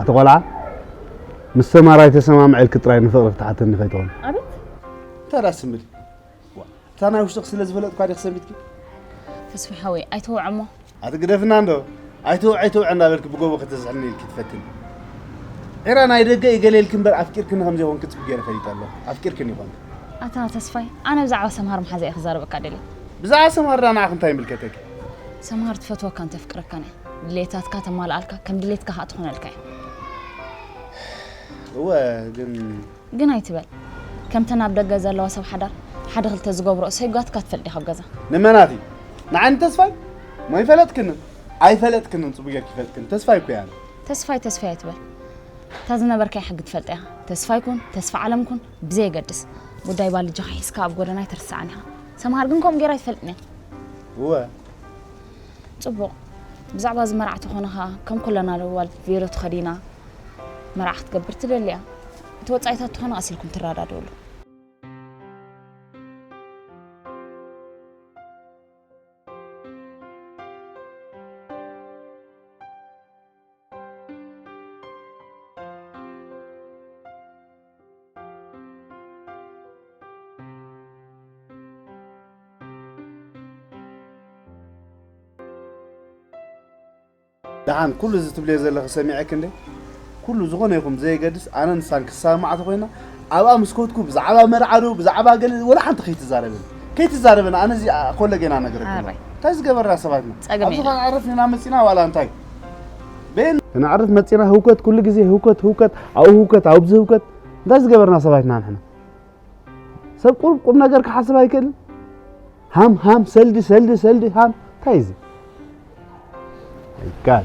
ኣቲ ቆልዓ ምስ ሰማራይ ተሰማምዐልኪ ጥራይ ንፍቕሪ ክትሓተኒ ከይትኾን ኣቤት እንታይ ደኣ ስምሪ እታ ናይ ውሽጥኺ ስለ ዝፈለጥኳ ዲኺ ሰንቢትኪ ተስፋ ሓወይ ኣይተወዐሞ ኣትግደፍና እንዶ ኣይትውዕ ኣይትውዕ እንዳበልኪ ብጎቦ ከተዝሕልኒ ኢልኪ ትፈትኒ ዒራ ናይ ደገ እዩ ገለ ኢልኪ እምበር ኣፍቂርክኒ ከም ዘይኮንኪ ጽቡቅ ገይረ ፈሊጠ ኣለኹ ኣፍቂርክኒ ይኾንኪ ኣታ ተስፋይ ኣነ ብዛዕባ ሰምሃር መሓዛ እየ ክዛረበካ ደልየ ብዛዕባ ሰምሃር ድኣ ንዓኺ እንታይ ይምልከተኪ ሰምሃር ትፈትወካን ተፍቅረካን እያ ድሌታትካ ተማልኣልካ ከም ድሌትካ ከኣ ትኾነልካ እያ እወ ግን ግን ኣይትበል ከምተን ኣብ ደገ ዘለዋ ሰብ ሓዳር ሓደ ክልተ ዝገብሮ እሰይጓትካ ትፈልጥ ዲኻ ኣብ ገዛ። ንመናት እዩ ንዓይ ንተስፋይ እሞ ይፈለጥክንን ኣይፈለጥክንን ጽቡቅ ጌርኪ ይፈልጥክን ተስፋይ እኮ እየ ኣነ ተስፋይ ተስፋይ ኣይትበል እታ ዝነበርካያ ሕጊ ትፈልጣ ኢኻ ተስፋይ ኩን ተስፋ ዓለም ኩን ብዘየገድስ ጉዳይ ባልጃኻ ሒዝካ ኣብ ጎደና ኣይትርሳዕን ኢኻ ሰምሃር ግን ከምኡ ጌራ ኣይትፈልጥን እያ እወ ጽቡቕ ብዛዕባ እዚ መርዓ ተኾንኻ ከም ኩለና ለዋል ቬሎ ተኸዲና መርዓ ክትገብር ትደልያ እቲ ወጻኢታት ተኾነ ኣሲልኩም ትረዳድእሉ ደሓን ኩሉ እዚ ትብልዮ ዘለኺ ሰሚዐክ እንደ ኩሉ ዝኾነ ይኹን ብዘየገድስ ኣነ ንሳን ክሳብ መዓት ኮይና ኣብኣ ምስ ኮትኩ ብዛዕባ መርዓ ዶ ብዛዕባ ገለ ወላ ሓንቲ ከይትዛረበኒ ከይትዛረበኒ ኣነ እዚ ኮለጌና ነገረክ እንታይ ዝገበርና ሰባት ኢና ኣብዚ ኸን ዕረፍ ኢና መፂና ዋላ እንታይ ክነዕርፍ መፂና ህውከት ኩሉ ግዜ ህውከት ህውከት ኣብኡ ህውከት ኣብዚ ህውከት እንታይ ዝገበርና ሰባት ኢና ንሕና ሰብ ቁም ቁም ነገር ክሓስብ ኣይክእልን ሃም ሃም ሰልዲ ሰልዲ ሰልዲ ሃም እንታይ እዚ ይካል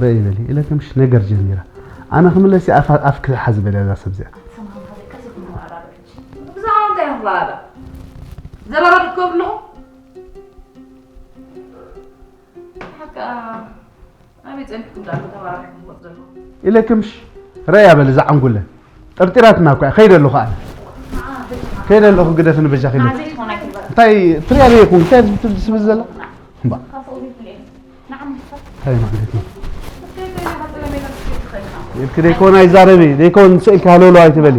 በይ በሊ ኢለ ከምሽ ነገር ጀሚራ ኣነ ክምለስ እየ ኣፍ ኣፍ ክሓዝ በልያ እዛ ሰብ እዚኣ ዘረባ ድከብልኹ ኢለክምሽ ረያ በል እዛ ዓንጉለ ጠርጢራትና እኳ ከይደ ኣለኹ ኣነ ከይደ ኣለኹ ግደፍኒ በጃኺ እንታይ ትሪያ ዘይኹን እንታይ ትስብል ዘላ እንታይ ማለት እዩ ኢልክ ደይኮን ኣይዛረብ ደይኮን ስእልካ ሃለውለው ኣይትበሊ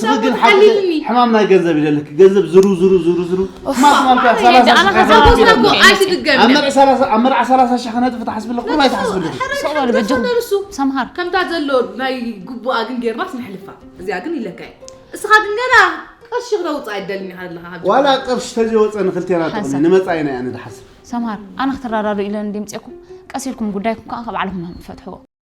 ስኺ ግን ሓቂ ሕማም ናይ ገንዘብ ይደልክ ገንዘብ ዝሩ ዝሩ ዝሩ ዝሩ ኣብ መርዓ ሰላሳ ሽሕ ክነጥፍ ትሓስብለ ኮ ኣይትሓስብልክ ሰምሃር ከምታ ዘሎ ናይ ግቡኣ ግን ጌርናስ ንሕልፋ እዚኣ ግን ይለካ እስኻ ግን ገና ቅርሺ ክነውፅ ኣይደልኒ ኣለኻ ዋላ ቅርሺ ተዘይወፀ ንክልቴና ጥቕሚ ንመፃኢና እያ ንድሓስብ ሰምሃር ኣነ ክትራዳዱ ኢለን ድምፅኩም ቀስ ኢልኩም ጉዳይኩም ከዓ ካብ ባዕልኩም ፈትሕዎ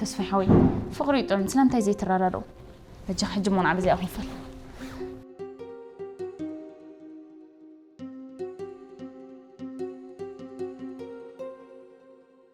ተስፋይ ሓወይ ፍቕሪ እዩ ጥዑም ስለምንታይ ዘይትረዳድኡ በጃ ሕጂ ሞን ዓብ እዚኣ ክንፈል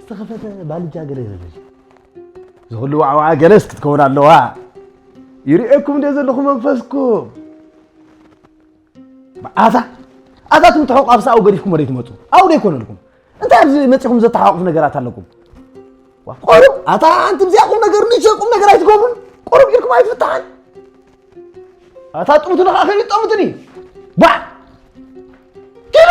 ዝተኸፈተ ባልጃ ገለ ይበለል ዝኹሉ ዋዕዋዓ ገለስ ክትከውን ኣለዋ ይርእየኩም እንደ ዘለኹ መንፈስኩም መዓዛ ኣታትኩም ትሕቑ ኣብ ሰብኣዊ ገዲፍኩም ወደ ትመፁ ኣብኡ ዘይኮነልኩም እንታይ ኣብዚ መፂኹም ዘተሓዋቕፍ ነገራት ኣለኩም ቆርብ ኣታ ኣንቲ ብዚኣ ቁም ነገር ንሸ ቁም ነገር ኣይትገብሩን ቆርብ ኢልኩም ኣይትፍታሓን ኣታ ጥሙት ንኸዓ ከይጠሙትኒ ባዕ ኪሉ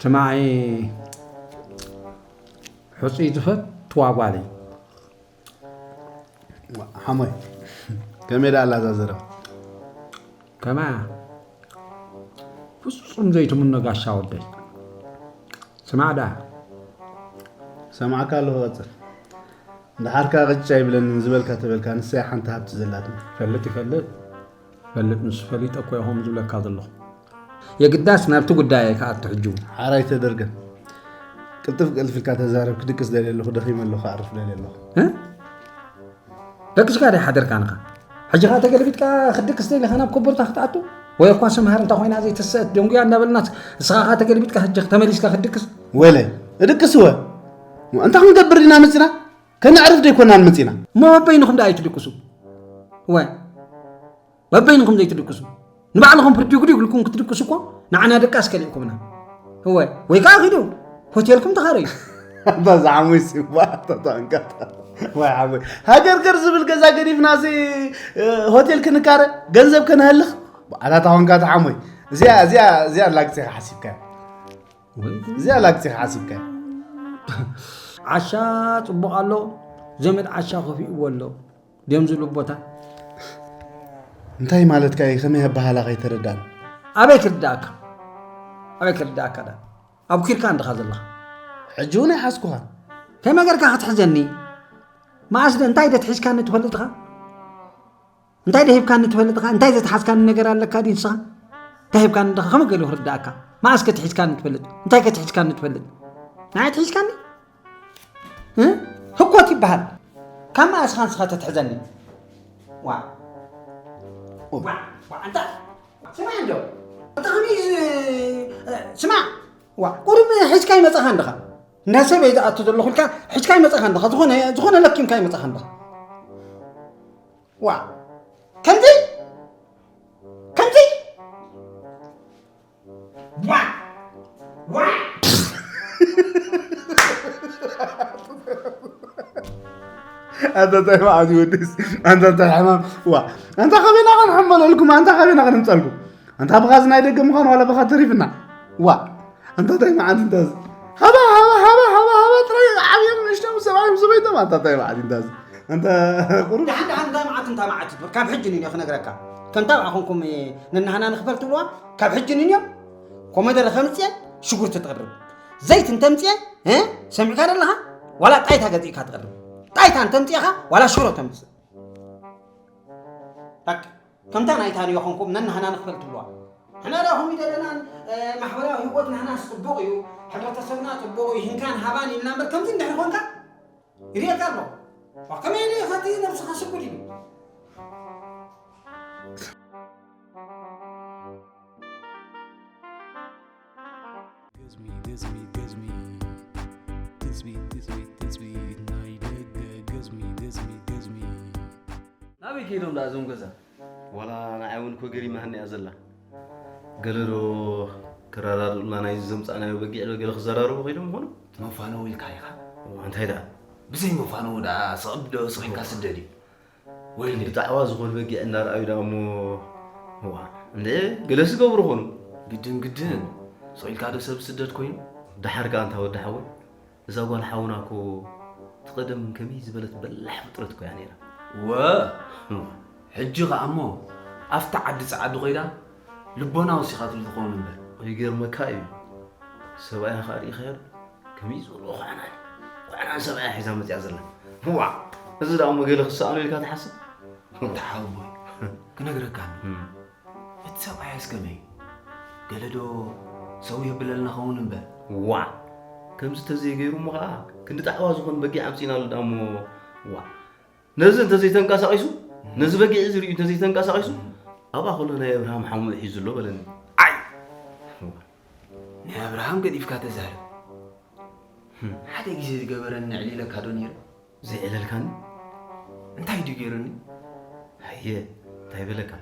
ትማዒ ሕፁይ ዝፈትዋ ጓል እዩ ሓሞይ ከመይ ዳ ኣላ እዛ ዘረባ ከመያ ፍፁም ዘይትምኖ ጋሻ ወደይ ስማዕ ዳ ሰማዕካ ኣለኹ ቀፅል እንድሓርካ ቅጫ ይብለኒ ዝበልካ ተበልካ ንሳይ ሓንቲ ሃብቲ ዘላትኒ ፈልጥ ይፈልጥ ፈልጥ ንሱ ፈሊጠ እኮ እየ ከምኡ ዝብለካ ዘለኹ የግዳስ ናብቲ ጉዳይ ክኣቱ ሕጂ ሓራይ ተደርገ ቅልጥፍ ቅልጥፍ ኢልካ ተዛረብ ክድቅስ ደልየ ኣለኹ ደኺመ ኣለኹ ክዓርፍ ደልየ ኣለኹ ደቅስካ ደ ሓደርካ ንኻ ሕጂ ኸ ተገልቢጥካ ክድቅስ ደሊኻ ናብ ኮቦርታ ክትኣቱ ወይ እኳ ስምሃር እንተ ኮይና ዘይትስእት ደንጉያ እንዳበልናት ንስኻ ኸ ተገልቢጥካ ሕጂ ተመሊስካ ክድቅስ ወለ እድቅስ ወ እንታይ ክንገብር ኢና መፅና ከነዕርፍ ደይኮናን መፂና እሞ በበይንኹም ደኣ ኣይትድቅሱ ወ በበይንኹም ዘይትድቅሱ ንባዕልኹም ብርዲጉዲግ ኢልኩም ክትድቅሱ እኮ ንዓና ደቃስ ከሊእኩምና እወ ወይ ከዓ ኪዱ ሆቴልኩም ተኻረዩ ኣባዛ ዓሙይ ሲባ ተጠንቀቕ ወይ ዓሙይ ሃገርገር ዝብል ገዛ ገዲፍና እዚ ሆቴል ክንካረ ገንዘብ ከነህልኽ በዓላታ ኮንካ ተዓሙይ እዚኣ እዚኣ እዚኣ ላግፂ ሓሲብካ እዚኣ ላግፂ ክዓሲብካ ዓሻ ፅቡቕ ኣሎ ዘመድ ዓሻ ከፊእዎ ኣሎ ድዮም ዝብሉ ቦታ እንታይ ማለትካ እዩ ከመይ ኣበሃላ ከይተረዳን ኣበይ ክርዳእካ ኣበይ ክርዳእካ ዳ ኣብ ኪርካ እንድኻ ዘለኻ ሕጂ እውን ኣይሓዝኩኻ ከመይ ጌርካ ክትሕዘኒ መዓስ እንታይ ደትሒዝካኒ ትፈልጥኻ እንታይ ዶ ሂብካኒ ትፈልጥ ኸ እንታይ ዘትሓዝካኒ ነገር ኣለካ ድዩ ንስኻ እንታይ ሂብካኒ ድኻ ከመይ ገሉ ክርዳእካ መዓስ ከትሒዝካኒ ትፈልጥ እንታይ ከትሒዝካኒ ትፈልጥ ንዓይ ትሒዝካኒ ህኮት ይበሃል ካብ መዓስ ኻን ስኻ ተትሕዘኒ ዋ ኣንታ ስማዕ እንዶ ኣንታ ከመይ ስማዕ ዋ ቁሩብ ሒዝካ ይመፃኻ እንድኻ እንዳ ሰብ እየ ዝኣቱ ዘለኹ ኢልካ ሒዝካ ይመፃኻ እንድኻ ዝኾነ ዝኾነ ለኪምካ ይመፃኻ እንድኻ ዋ ከምዚ ከምዚ ዋ ዋ ኣንታ እንታይ መዓዝ ይወድስ ኣንታ እንታይ ሕማም ዋ ኣንታ ከበና ክንሕመለልኩም ኣንታ ከበና ክንምፀልኩም ኣንታ ብኻ ናይ ደገ ምዃን ዋላ ብኻ ተሪፍና ዋ ኣንታታይ መዓት እንታዝ ሃባ ሃባ ሃባ ሃባ ሃባ ጥራይ ዓብዮም ንእሽቶም ሰብኣዮም ሰበይቶም ኣንታታይ መዓት እንታዝ ኣንታ ቁሩብ ድሓን ድሓን እንታይ መዓት እንታይ መዓት ይትብል ካብ ሕጂ ንዮ ክነግረካ ከምታ ብኣ ኮንኩም ንናህና ንክፈል ትብልዋ ካብ ሕጂ ንዮ ኮመደረ ከምፅኤ ሽጉርቲ ትቕርብ ዘይት እንተምፅኤ ሰሚዕካ ደለኻ ዋላ ጣይታ ገዚእካ ትቕርብ ጣይታ እንተምፅእኻ ዋላ ሽሮ ተምፅእ ከምታ ናይ ታንዮ ኮንኩም ነናህና ንክፈል ትብልዋ ሕመራ ኮሚደረናን ማሕበራዊ ሂወት ናህና ጽቡቅ እዩ ሕብረተሰብና ጽቡቅ እዩ ሂንካን ሃባን ኢልና እምበር ከምዚ እንድሕር ኮንካ ይርየካ ኣሎ ዋ ከመይ ኢሉ ኢኻ እቲ ነብስኻ ስጉድ እዩ ናበይ ከይዶም ደኣ እዞም ገዛ? ዋላ ንዓይ ውን እኮ ገሪማትኒ እያ ዘላ። ገለ ዶ ክረዳድኡልና ናይዚ ዘምጻእናዮ በጊዕ ዶ ገለ ክዘራረቡ ከይዶም ይኾኑ? መፋነዊ ኢልካ ኢኻ። እዋእ እንታይ ደኣ? ብዘይ መፋነዊ ደኣ ስቕ ዶ ስቕ ኢልካ ስደድ እዩ። ወይኒ ጣዕዋ ዝኾኑ በጊዕ እናርኣዩ ዳሞ እዋ እንደ ገለ ዝገብሩ ኾኑ ግድን ግድን ስቂልካ ዶ ሰብ ስደት ኮይኑ ደሓር ከኣ እንታ ወዲ ሓወይ እዛ ጓል ሓውና እኮ ትቐደም ከመይ ዝበለት በላሕ ፍጥረት እኮ እያ ነይራ ወ ሕጂ ከኣ እሞ ኣብቲ ዓዲ ጸዓዱ ኮይዳ ልቦና ወሲኻትሉ ትኸውን እምበር ይገርመካ እዩ ሰብኣያ ከኣ ርኢኻዮ ከመይ ዝበሉ ኳዕና ኳዕና ሰብኣያ ሒዛ መፅያ ዘላ ዋዕ እዚ ዳኡ መገለ ክሰኣኑ ኢልካ ትሓስብ ተሓውቦይ ክነግረካ እቲ ሰብኣያ እስከመይ ገለ ዶ ሰው የብለልና ኸውን እምበር ዋዕ ከምዚ ተዘይገይሩ እሞ ከዓ ክንዲ ጣዕዋ ዝኾን በጊዕ ኣምፂና ኣሎ ዳሞ ዋዕ ነዚ እንተዘይተንቀሳቂሱ ነዚ በጊዕ እዚ ርእዩ እንተዘይተንቀሳቂሱ ኣብኣ ከሎ ናይ ኣብርሃም ሓሙኡ ሒዙ ኣሎ በለኒ ዓይ ናይ ኣብርሃም ገዲፍካ ተዛረብ። ሓደ ግዜ ዝገበረኒ ዕሊለካ ዶ ነይረ? ዘይዕለልካኒ? እንታይ ድዩ ገይሩኒ? ሃየ እንታይ በለካ?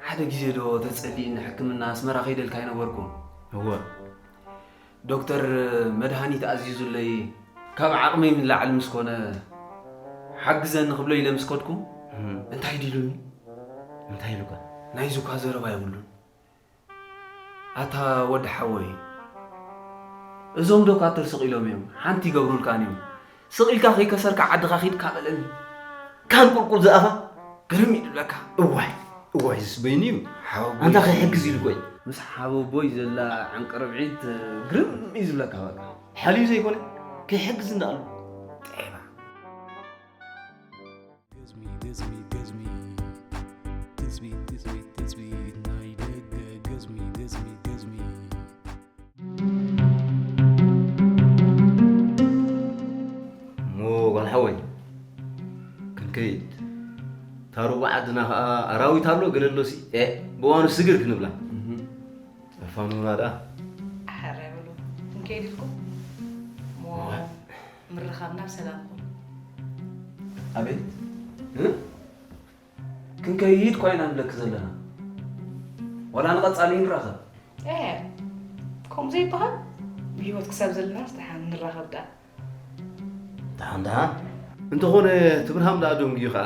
ሓደ ግዜ ዶ ተጸልይኒ ሕክምና ኣስመራ ከይደልካ ኣይነበርኩም? እወ። ዶክተር መድሃኒት ኣዚዙለይ ካብ ዓቕመይ ንላዕሊ ምስ ኮነ ሓግዘኒ ክብሎ ኢለ ምስ ከድኩ እንታይ ድዩ ኢሉኒ? እንታይ ኢሉካ? ናይዚ እኳ ዘረባ የብሉን። ኣታ ወድ ሓወይ እዞም ዶካተር ስቅ ኢሎም እዮም ሓንቲ ይገብሩልካን እዮም ስቅ ኢልካ ከይከሰርካ ዓድካ ኪድ ካበለን ካብ ቁልቁል ዝኣፋ ግርም ይብለካ እዋይ እዋይ ዝስ በይኑ እዩ ሓወቦይ ኣንታ ከይሕግዝ ኢሉ ቆይ ምስ ሓወቦይ ዘላ ዕንቅርብዒት ግርም እዩ ዝብለካ በቃ ሓልዩ ዘይኮነ ከይሕግዝ እንዳኣሉ ዓድና ከዓ ኣራዊት ኣሎ ገለሎ ሲ ብዋኑ ስግር ክንብላ ፋኑና ዳ ሓራ ይብሉ ክንከይድ ኢልኩም ምርኻብና ብ ሰላም ኩን። ኣቤት እ ክንከይድ እኳ ኢና ንብለኪ ዘለና ዋላ ንቐጻሊ ንራኸብ። ኤህ ከምኡ ዘይበሃል ብህይወት ክሳብ ዘለናስ ደሓን ንራኸብ ደኣ። ደሓን ደሓን እንተኾነ ትብርሃም ደኣ ደንጉዩ ከኣ።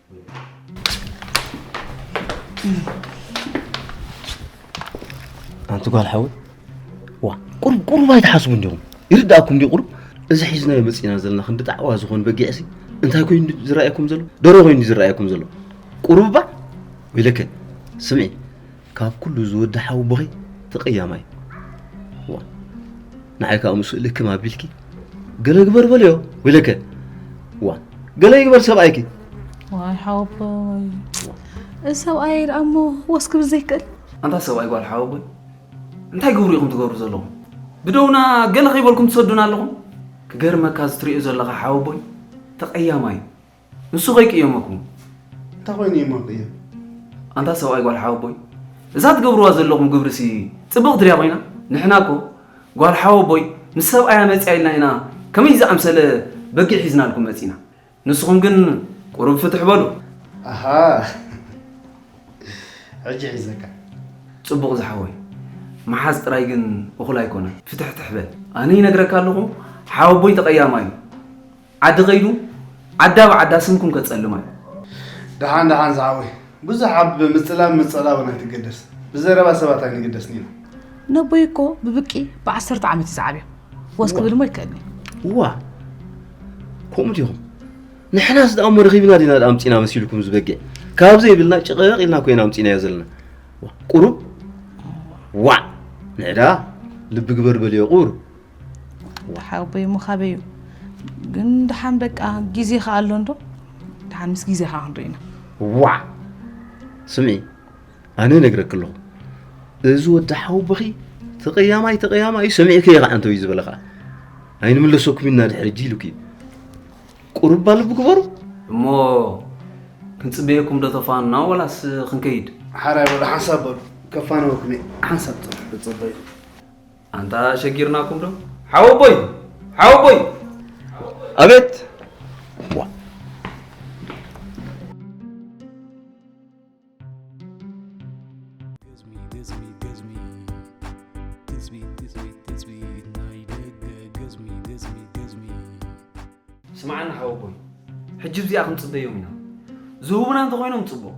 ኣንቲ ጓል ሓወይ ዋ ቁሩብ ቁሩብ ኣይትሓስቡ እንዲኹም ይርዳእኩም እንዲ ቁሩብ እዚ ሒዝናዮ መፂና ዘለና ክንዲ ጣዕዋ ዝኾን በጊዕሲ እንታይ ኮይኑ ዝረኣየኩም ዘሎ ደሮ ኮይኑ ዝረኣየኩም ዘሎ ቁሩብ እባ ወይለከ ስምዒ ካብ ኩሉ ዝወዲ ሓው ቦኺ ተቀያማይ እዋእ ንዓይ ከኣ ምስኡ ልክም ኣቢልኪ ገለ ግበር በልዮ ወይለከ እዋ ገለ ይግበር ሰብኣይኪ ዋይ ሓወቦይ እዚ ሰብኣይ ደኣ እሞ ወስ ክብል ዘይክእል ኣንታ ሰብኣይ ጓል ሓወቦይ እንታይ ግብሩ ኢኹም ትገብሩ ዘለኹም ብደውና ገለ ከይበልኩም ትሰዱና ኣለኹም ክገርመካ እዚ ትርእዮ ዘለኻ ሓወቦይ ተቐያማይ ንሱ ከይቅየመኩም እንታይ ኮይኑ እዩ ማቅየ ኣንታ ሰብኣይ ጓል ሓወቦይ እዛ ትገብርዋ ዘለኹም ግብርሲ ፅብቕቲ ድያ ኮይና ንሕና እኮ ጓል ሓወቦይ ምስ ሰብኣያ መፅያ ኢልና ኢና ከመይ ዝኣምሰለ በጊዕ ሒዝናልኩም መፂና ንስኹም ግን ቁሩብ ፍትሕ በሉ ኣሃ ሕጂ ሒዘካ ፅቡቕ ዝሓወይ መሓዝ ጥራይ ግን እኹል ኣይኮነን ፍትሕትሕ በል ኣነ ይነግረካ ኣለኹ ሓወቦይ ተቐያማ እዩ ዓዲ ከይዱ ዓዳ ብዓዳ ስምኩም ከጸልማ እዩ። ደሓን ደሓን ዝሓወይ ብዙሕ ኣብ ምጽላም ምጸላውን ኣይትገደስ ብዘረባ ሰባት ኣይንግደስን ኢና። ነቦይ እኮ ብብቂ ብዓሰርተ ዓመት እዩ ዝዓብዮም ወስ ክብል እሞ ይከኣልኒ እዋ ከምኡ ዲኹም ንሕናስ ደኣ እሞ ረኺብና ዲና ደኣ ኣምፂና መሲልኩም ዝበግዕ ካብ ዘይብልና ጭቕቕ ኢልና ኮይና ኣምፂናዮ ዘለና ቁሩብ ዋዕ ንዕዳ ልቢ ግበር በልዮ ቁሩብ ወሓ ኣቦይ እሞ ካበይ እዩ ግን ድሓን በቃ ግዜ ከ ኣሎ እንዶ ድሓን ምስ ግዜ ከ ክንሪኢና ዋዕ ስምዒ ኣነ ነግረክ ኣለኹ እዚ ወዲ ሓውብኺ ተቐያማይ ተቐያማይ እዩ ሰሚዕከ ይኸዓ እንተዩ ዝበለ ከዓ ኣይንምለሰኩም ኢና ድሕሪ እጂ ኢሉክ እዩ ቁርባ ልቢ ግበሩ እሞ ክንፅበየኩም ዶ ተፋኑና ወላስ ክንከይድ ሓራይ ወደ ሓንሳብ በሉ ከፋነወኩም እየ ሓንሳብ ፅበዩ ኣንታ ሸጊርናኩም ዶ ሓወቦይ ሓወቦይ ኣቤት ስማዓና ሓወቦይ ሕጂ እዚኣ ክንፅበዮም ኢና ዝህቡና እንተኾይኖም ፅቡቕ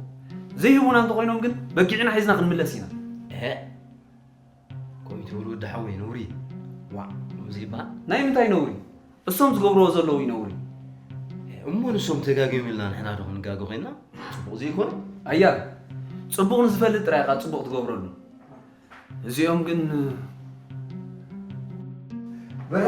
ዘይህቡና እንተኾይኖም ግን በጊዕና ሒዝና ክንምለስ ኢና ከምኡ ትብል ወዲ ሓወይ ነውሪ እዩ ዋእ ከምኡ ዘይበሃል ናይ ምንታይ ነውሪ እሶም ዝገብርዎ ዘለዉ እዩ ነውሪ እሞ ንሶም ተጋጊዮም ኢልና ንሕና ዶ ክንጋገ ኮይንና ፅቡቕ ዘይኮነ ኣያ ፅቡቕ ንዝፈልጥ ጥራይ ኢኻ ፅቡቕ ትገብረሉ እዚኦም ግን በረ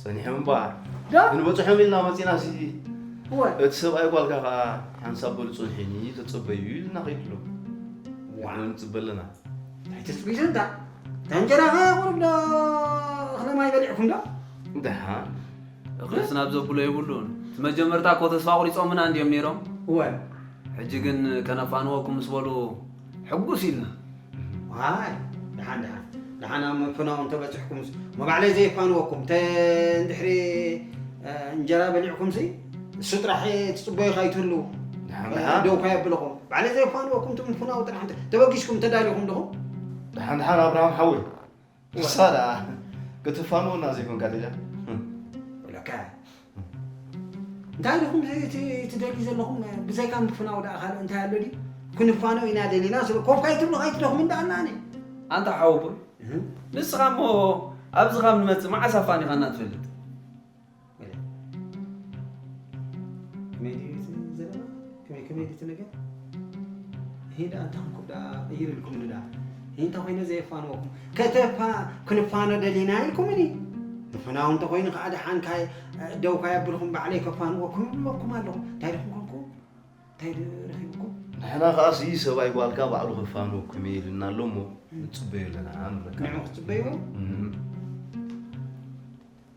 ጸኒሑ እምበኣር ክንበጽሖም ኢልና መጺእና ሲ እቲ ሰብኣይ ጓልካ ከኣ ሓንሳብ በሉ ጽንሑኒ ተጸበዩ ኢሉና ከይዱ ኣሎ ንሕና ንጽበ ኣለና እንታይ ተጽቢ ዘንታ እታ እንጀራ ከ ቁሩብ ዶ እኽለ ማይ በሊዕኩም ዶ ደሓን እኽልስ ናብ ዘብሎ የብሉን እቲ መጀመርታ እኮ ተስፋ ቁሪጾምና እንድዮም ነይሮም እወ ሕጂ ግን ከነፋንወኩም ምስ በሉ ሕጉስ ኢልና ዋይ ደሓን ደሓን ደሓን ኣብ ምፍናው እንተበፂሕኩምስ መባዕለይ ዘይፋንወኩም ተ እንድሕሪ እንጀራ በሊዕኩምሲ እሱ ጥራሕ ትፅበዩኻ ይትህልው ደው ከየብልኹም ባዕለይ ዘይፋንወኩም ትምፍናው ጥራሕ ተበጊስኩም ተዳሊኹም ድኹም ደሓን ደሓን ኣብርሃም ሓወይ እሳ ደኣ ክትፋንወና ዘይኮንካትያ ወለካ እንታይ ዲኹም ትደልዩ ዘለኹም ብዘይካ ምፍናው ደኣ ካልእ እንታይ ኣሎ ድዩ ክንፋነው ኢና ደሊና ስለ ኮፍ ካይትብሉ ካይትደኹም እንዳኣናኒ ኣንታ ሓወቦይ ንስኻ እሞ ኣብዚ ካብ ንመፅእ መዓስ ኣፋኒኻና ትፈልጥ ከተፋ ክንፋነ ደሊና ኢልኩምኒ ንፍናው እንተኮይኑ ከዓ ደሓን ደውካ የብልኩም ባዕለይ ከፋንወኩም ይብለኩም ኣለኹ እንታይ ድኹም ኮንኩ እንታይ ረኪብኩም ንሕና ከዓ ሲ ሰብኣይ ጓልካ ባዕሉ ከፋንወኩም እየ ኢልና ኣሎ እሞ ንፅበዩ ኣለና ንዑ ክትፅበዩ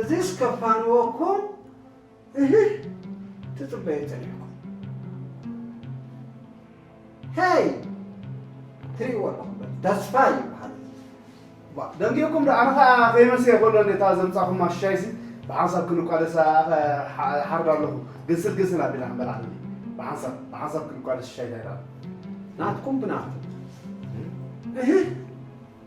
እዚስ ከፋንወኩም እህህ ትጽበዩ ጸኒሕኩም ሄይ ትሪእዎ ኣለኹም በል ተስፋ ይበሃል ባ ደንጊኹም ዶ ኣነ ኸኣ ከይመሰየ ከሎ ነታ ዘምጻኹማ ሻይሲ ብሓንሳብ ክንቋደሳ ሓርድ ኣለኹ ግንስል ግንስል ኣቢላ ክንበላዕ ብሓንሳብ ብሓንሳብ ክንቋደስ ሻይ ዳይዳ ናትኩም ብናቱ እህህ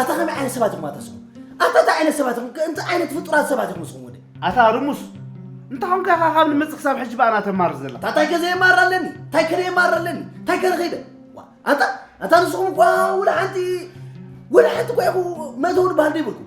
ኣታ ከመይ ዓይነት ሰባት ኢኹም ኣታ ስኹም ኣታ እንታይ ዓይነት ሰባት ኢኹም እንታይ ዓይነት ፍጡራት ሰባት ኢኹም ስኹም ወደ ኣታ ርሙስ እንተ ኾንካ ኢኻ ካብ ንመጽእ ክሳብ ሕጂ ብኣና ተማር ዘላ ኣታ እንታይ ከዘ የማር ኣለኒ እንታይ ከለ የማር ኣለኒ እንታይ ከለ ከይደ ኣታ ኣታ ንስኹም እኳ ውላ ሓንቲ ውላ ሓንቲ እኳ ኢኹ መእተዊ ንበሃል ዘይብልኩም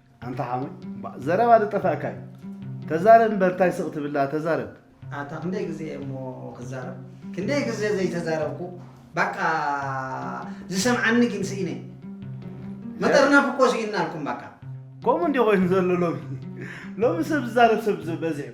ኣንታ ሓወይ ባእ ዘረባ ዶ ጠፋእካ እዩ ተዛረብ እምበር ታይ ስቅ ትብል ደኣ ተዛረብ። ኣታ ክንደይ ግዜ እሞ ክዛረብ ክንደይ ግዘ ዘይተዛረብኩ ባቃ ዝሰምዓኒ ግን ስኢነ መጠርነፊ እኮ ሲኢንናልኩም ባቃ። ከምኡ እንድዩ ኮይኑ ዘሎ ሎሚ ሎሚ ሰብ ዝዛረብ ሰብ በዚሑ።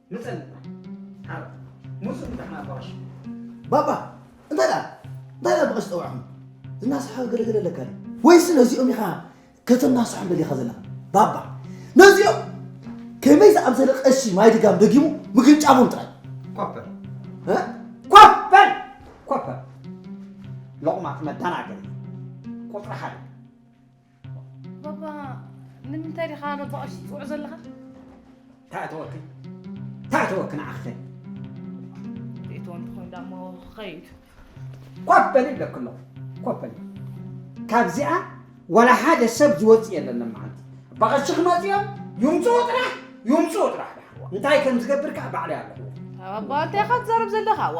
ምጸን ዓረብ ሙሱ ምታሕና ኣባራሽ ባባ እንታይ ደኣ እንታይ ደኣ ብቐሽ ጠውዕኹም ዝናስሓ ገለገለ ኣለካ ወይስ ነዚኦም ኢኻ ከተናስሖም ደሊኻ ዘላ ባባ ነዚኦም ከመይ ዝኣምሰለ ቀሺ ማይ ድጋም ደጊሙ ምግንጫቡን ጥራይ ኮፐር ኮፐር ኮፐር ሎቕማት መዳናገሪ ቁፅሪ ሓደ ባባ ንምንታይ ዲኻ ባባ ቀሺ ትፅውዖ ዘለኻ? ተእተወኪ ተእተወኪ ንዓኺ ኸይ ርእቶ እንተኾይኑ ዳሞ ኸይድ ኮፍ በሊ ይብለኪ ኣለኹ ኮፍ በሊ ካብዚኣ ዋላ ሓደ ሰብ ዝወፅእ የለን መዓልቲ በቐሺ ክመፁ እዮም ይምፅኡ ጥራሕ ይምፅኡ ጥራሕ እንታይ ከም ዝገብር ከዓ ባዕለይ ኣለኹ ባባ እንታይ ኢኻ ትዛረብ ዘለኻ ዋ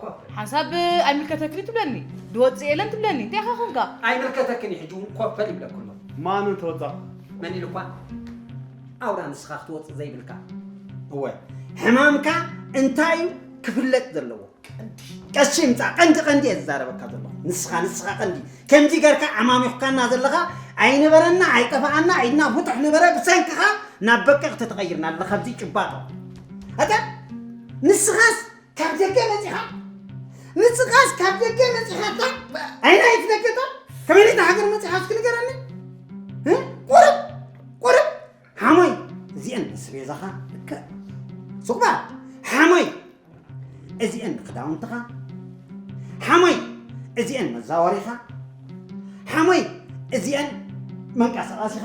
ኮፍ ሓንሳብ ኣይምልከተክን እዩ ትብለኒ ድወፅእ የለን ትብለኒ እንታይ ኢኻ ኮንካ ኣይምልከተክን እዩ ሕጂ እውን ኮፍ ይብለክ ኣሎ ማኑ ተወፃእ መን ኢሉኳ ኣውራ ንስኻ ክትወፅእ ዘይብልካ እወ ሕማምካ እንታይ እዩ ክፍለጥ ዘለዎ ቀሺ ምፃእ ቀንዲ ቀንዲ እየ ዝዛረበካ ዘለኹ ንስኻ ንስኻ ቀንዲ ከምዚ ገርካ ዓማሚኹካና ዘለኻ ኣይነበረና ኣይጠፋኣና ኢድና ቡጡሕ ነበረ ብሰንክኻ ናብ በቀቕ ተተቐይርና ኣለኻ ኣብዚ ጭባጦ ኣታ ንስኻስ ካብ ደገ መፂኻ ንስኻስ ካብ ደገ መፂኻታ ዓይና ኣይትነገጣ ከመይ ኢልካ ሃገር መፂኻ እስኪ ንገረኒ ቁርብ ቁርብ ሓሞይ እዚአን ምስ ቤዛኻ ልክዕ ሱቕባ ሓሞይ እዚአን ክዳውንትኻ ሓሞይ እዚአን መዛወሪኻ ሓሞይ እዚአን መንቀሳቐሲኻ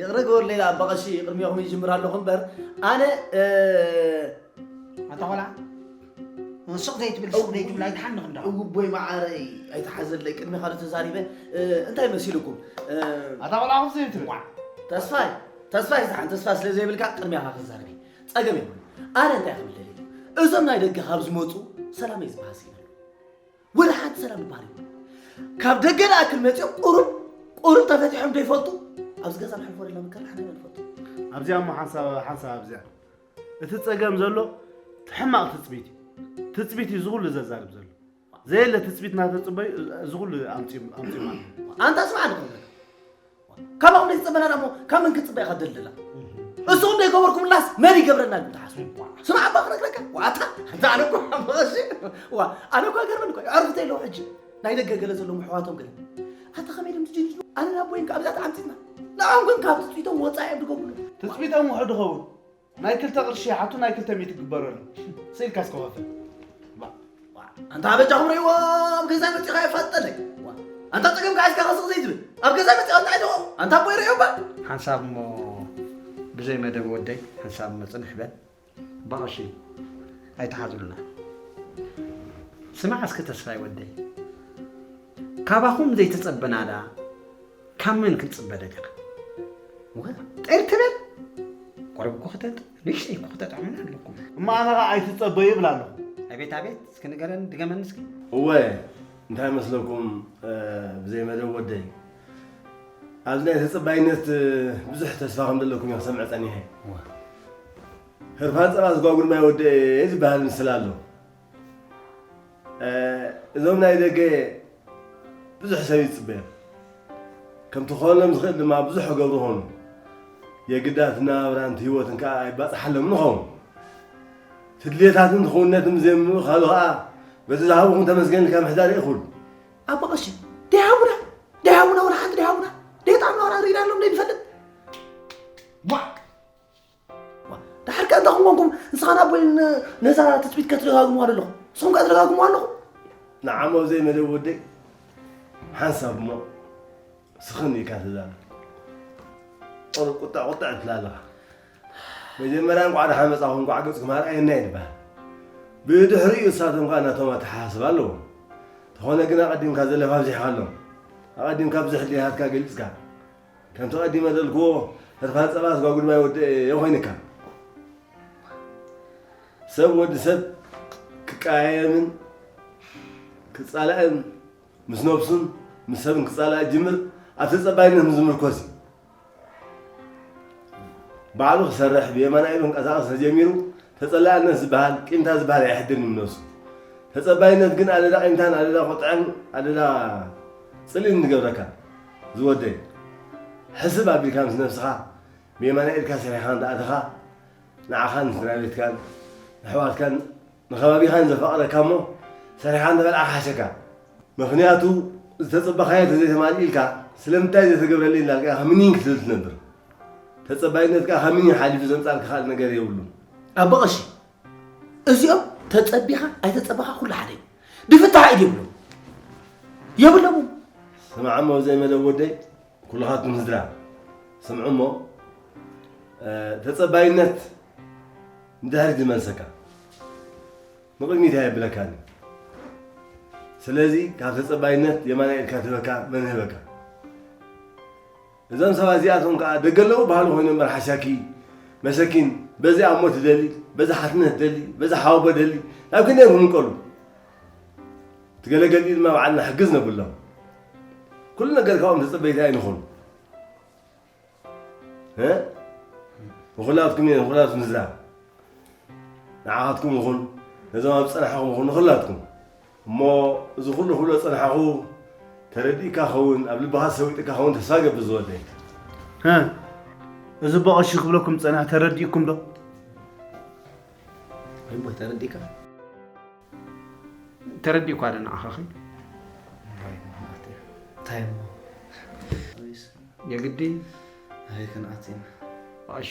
ይቕረ ግበሩ ሌላ እባ ቐሺ ቅድሚኹም ይጅምር ኣለኹ እምበር ኣነ ኣታ ቆልዓ ሱቕ ዘይትብል ሱቕ ዘይትብል ኣይትሓንኽ እንዳ እውቦይ መዓረይ ኣይትሓዘለይ ቅድሚ ካልእ ተዛሪበ እንታይ መሲልኩም ኣታ ቆልዓ ከምዚ ዘይትብል ተስፋይ ተስፋይ ዝሓን ተስፋ ስለ ዘይብልካ ቅድሚኻ ክዛረብ ጸገም የብሉ ኣነ እንታይ ክብል ደልየ እዞም ናይ ደገ ካብ ዝመፁ ሰላም እዩ ዝበሃል ስኢነ ወላ ሓንቲ ሰላም ዝበሃል እዩ ካብ ደገ ንኣክል መፂኦም ቁሩብ ቁሩብ ተፈቲሖም ዶ ይፈልጡ ኣብዚ ገዛ ንሕልፎ ደላ ምካል ሓንቲ ንፈልጡ ኣብዚኣ እሞ ሓንሳብ ሓንሳብ ኣብዚኣ እቲ ጸገም ዘሎ ሕማቕ ትፅቢት እዩ ትፅቢት እዩ ዝኹሉ ዘዛርብ ዘሎ ዘየለ ትፅቢት እናተፅበዩ እዚ ኩሉ ኣምፂኦም ኣምፂኦም ኣንታ ስማዕ ዶ ክብለካ ካባኹም ዘይተፀበና ዳሞ ካብ መን ክትፅበ ኢኻ ደልደላ እሱኹም ዘይገበርኩምላስ መን ይገብረና ኢልኩም ትሓስቡ ስማዕ እባ ክነግረካ ዋታ እንተ ኣነ እኮ ሓመቐሲ ዋ ኣነ እኳ ገርመን እኳ ዕርፍተ ኣለዎ ሕጂ ናይ ደገ ገለ ዘለዎም ኣሕዋቶም ገለ ኣታ ከመይ ድም ትጅንጅኑ ኣነ ናብ ወይን ካብዛ ተዓምፂትና ንዖም ግን ካብ ትፅቢቶም ወፃኢ እዮም ድገብሩ ትፅቢቶም ውሕድ ኸውን ናይ ክልተ ቅርሺ ይሓቱ ናይ ክልተ ሚእቲ ግበረሉ ስኢልካስ ክኸፍል ኣንታ በጃኹም ርእይዎ ኣብ ገዛይ መፂኻ የፋልጠለይ ኣንታ ፀገምካ ሒዝካ ከስቕ ዘይትብል ኣብ ገዛይ መፂኻ እንታይ ደኹ ኣንታ ኣቦ ይርእዮ እባ ሓንሳብ እሞ ብዘይ መደብ ወደይ ሓንሳብ እሞ ፅንሕ በል ብቐሺ ኣይተሓዝሉና ስማዕ እስኪ ተስፋይ ወደይ ካባኹም ዘይተፀበናላ ካብ መን ክንጽበ ደሊኻ? ሙኸታ ጥር ትበል ቆረብ እኮ ክተጥ ንእሽተይ እኮ ክተጥዕሙና ኣለኩም። እሞ ኣነ ኸኣ ኣይትጸበዩ ይብል ኣሎ። ኣቤት ኣቤት እስኪ ንገረኒ ድገመኒ እስኪ። እወ እንታይ መስለኩም ብዘይ መደብ ወደይ ኣብዚ ናይ ተጸባይነት ብዙሕ ተስፋ ከም ዘለኩም እየ ክሰምዕ ጸኒሐ። ህርፋን ጸባ ዝጓጉል ማይ ወደኤ ዝበሃል ምስላ ኣሎ። እዞም ናይ ደገ ብዙሕ ሰብ ይፅበዮም ከምቲ ክኾነሎም ዝኽእል ድማ ብዙሕ ክገብሩ ኾኑ የግዳት ናብራን ህይወትን ከዓ ኣይባፅሓሎም ንኸውን ትድልየታትን ክውነትን ብዘይምእኻሉ ከዓ በቲ ዝሃብኹም ተመስገን ኢልካ ምሕዳር ይእኹል ኣብ መቐሽ ደይሃቡና ደይሃቡና ወላ ሓንቲ ደይሃቡና ደይጣዕምና ወላ ርኢናሎም ደይንፈልጥ ድሓር ከ እንታይ ኮንኩም ንስኻን ኣቦይ ነዛ ትፅቢት ከትደጋግሙዋ ኣለኹ ንስኹም ከ ትደጋግሙዋ ኣለኹ ንዓሞ ዘይመደብ ወደይ ሓንሳብ እሞ ስኽን ኢልካ ትዛረብ ቁር ቁጣዕ ቁጣዕ ትብላ ኣለኻ መጀመርያ እንኳዕ ደሓን መፃኹም እንኳዕ ገፅኩም ኣርኣየና ይበሃል ብድሕሪኡ እሳቶም ከዓ ናቶም ኣተሓሳስባ ኣለዎም ዝኾነ ግን ኣቐዲምካ ዘለፋ ኣብዚሕካ ኣሎም ኣቐዲምካ ብዙሕ ድልየታትካ ገሊፅካ ከምቲ ቀዲመ ዘልክዎ ህርፋን ጸባ ስጋ ጉድማይ ወደኤ ኮይንካ ሰብ ወዲ ሰብ ክቀያየምን ክጻላእን ምስ ነብሱን ምስ ሰብን ክጻላእ ጅምር ኣብ ተጸባይነት ምስ ዝምርኮስ እዩ ባዕሉ ክሰርሕ ብየማና ኢሉ ክንቀሳቀስ ተጀሚሩ ተጸላእነት ዝበሃል ቂምታ ዝበሃል ኣይሕድን እዩ ነብሱ ተጸባይነት ግን ኣደዳ ቂምታን ኣደዳ ቁጥዐን ኣደዳ ጽልእን ዝገብረካ ዝወደይ ሕስብ ኣቢልካ ምስ ነብስኻ ብየማናይ ኢድካ ሰሪሕኻ እንተኣተኻ ንዓኻን ንስድራቤትካን ንኣሕዋትካን ንከባቢኻን ዘፋቕረካ እሞ ሰሪሕኻ እንተበልዓ ክሓሸካ ምኽንያቱ ዝተጸበኻዮ ተዘይተማሊእልካ ስለምንታይ ዘይተገብረለይ እንዳልካ ኢኻ ምኒን ክትብል ትነብር ተጸባይነትካ ካብ ምኒን ሓሊፉ ዘምጻልካ ካልእ ነገር የብሉን ኣቦ ቐሺ እዚኦም ተጸቢኻ ኣይተጸበኻ ኩሉ ሓደ እዩ ድፍታሕ ኢድ ይብሉ የብሎም ስምዓ እሞ ዘይመደብ ወደይ ኩልኻትኩም ስድራ ስምዑ እሞ ተጸባይነት ንድሕሪት ዝመልሰካ ንቕድሚት ኣየብለካን ስለዚ ካብ ተጸባይነት የማና ኢልካ ትበካ መን ህበካ እዞም ሰባት እዚኣቶም ከኣ ደገ ኣለዉ በሃሊ ኮይኖም እምበር ሓሻኪ መሰኪን በዚ ኣሞ ትደሊ በዚ ሓትነት ደሊ በዚ ሓወቦ ደሊ ናብ ክንደይ እዮም ክምቀሉ እቲ ገለ ገልጢ ድማ በዓልና ሕግዝ ነብሎም ኩሉ ነገር ካብኦም ተጸበይቲ ኣይንኹን ንኹላትኩም እየ ንኹላትኩም ዝዛብ ንዓኻትኩም ይኹን ነዞም ኣብ ዝጸናሕኹም ይኹን ንኹላትኩም እሞ እዚ ኩሉ ክብሎ ዝጸናሕኹ ተረዲእካ ክኸውን ኣብ ልብኻ ሰዊጥካ ክኸውን ተስፋ ይገብር ዝወደይ። ህ እዚ በቐሹ ክብለኩም ዝጸንሐ ተረዲእኩም ዶ? እሞ ተረዲእካ ተረዲእኳ ዶ ንዓኻኺ እንታይ እሞ የግዲ ኣይ ክንኣት ኢና በቐሺ